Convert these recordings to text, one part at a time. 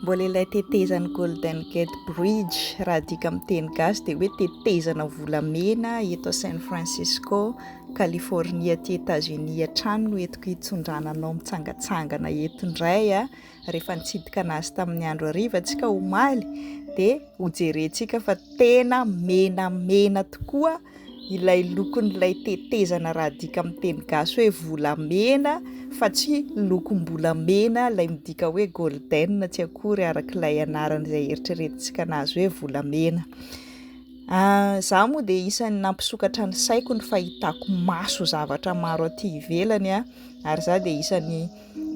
Mbola ilay tetezan'ny Golden Gate Bridge, raha adika amin'ny teny gasy dia hoe tetezana volamena eto San Francisco, California aty Etats-Unis hatrany no entiko hitsindrana anao mitsangatsangana eto indray a, rehefa nitsidika anazy tamin'ny andro hariva tsika omaly dia hojerentsika fa tena menamena tokoa. ilay lokon'ilay tetezana raha adika amin'ny teny gasy hoe volamena fa tsy lokom-bolamena ilay midika hoe golden tsy akory araka ilay anarana izay eritreretintsika anazy hoe volamena. Ah, za moa dia isan'ny nampisokatra ny saiko ny fahitako maso zavatra maro aty ivelany ah, ary za dia isan'ny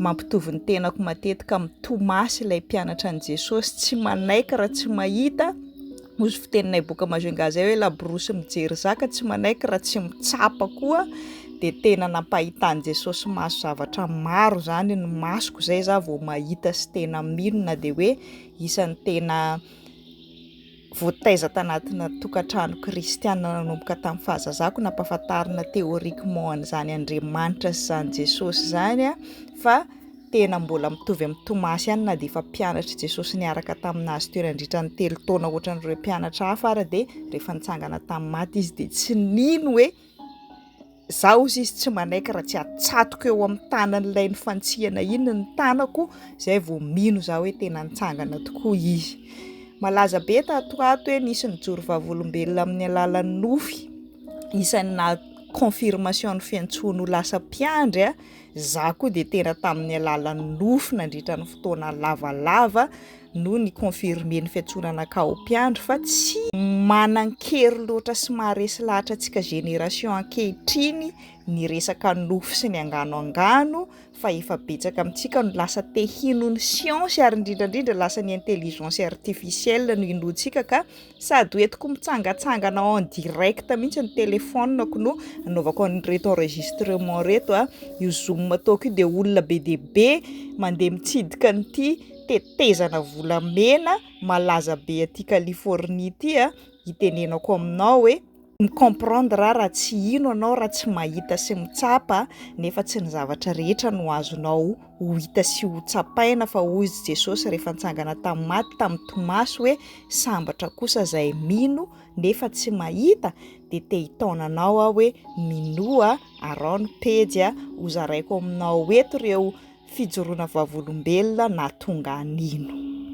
mampitovy ny tenako matetika amin'ny Tomasy ilay mpianatra an'i Jesosy, tsy manaiky raha tsy mahita, hoy izy fiteninay boka Majunga zay hoe laborosy mijery zaka, tsy manaiky raha tsy mitsapa koa, dia tena nampahitan'i Jesosy maso zavatra maro zany ny masoko zay za vao mahita sy tena mino na dia hoe isan'ny tena Voataiza tanatina tokantrano kristiana nanomboka tamin'ny fahazazako nampahafantarina théoriquement an'izany Andriamanitra sy izany Jesosy izany aho fa tena mbola mitovy amin'ny Tomasy ihany na dia efa mpianatr'i Jesosy niaraka taminazy teo nandritra ny telo taona ohatran'ireo mpianatra hafa ary dia rehefa nitsangana tamin'ny maty izy dia tsy nino hoe Izaho, hozy izy, tsy manaiky raha tsy atsatoka eo amin'ny tanan'ilay nifantsihana iny ny tanako, izay vao mino izaho hoe tena nitsangana tokoa izy. Malaza be tato ho ato hoe nisy nijoro vavolombelona amin'ny alalan'ny nofy, isan'ny naha confirmation ny fiantsoany ho lasa mpiandry aho, izaho koa dia tena tamin'ny alalan'ny nofy nandritra ny fotoana lavalava no ni confirmer ny fiantsonana Kao mpiandry fa tsy manan-kery loatra sy maharesy lahatra antsika génération ankehitriny ny resaka nofy sy ny angano angano fa efa betsaka amintsika no lasa te hino ny siansy ary indrindra indrindra lasa ny intelligence artificielle no inoantsika ka Sady ho entiko mitsangatsangana en direct mihitsy ny telephone-ko no anaovako an'ireto enregistrement ireto a! Io zoom ataoko io dia olona be dia be mandeha mitsidika an'ity tetezana volamena malaza be aty Californie ity a, hitenenako aminao hoe. Mi comprendre aho raha tsy hino anao raha tsy mahita sy mitsapa nefa tsy ny zavatra rehetra no azonao ho hita sy ho tsapaina fa hoy izy Jesosy rehefa nitsangana tamin'ny maty tamin'i Tomasy hoe sambatra kosa izay mino nefa tsy mahita dia te hitaona anao aho hoe minoa arao ny pejy a hozaraiko aminao eto ireo fijoroana vavolombelona nahatonga an'ino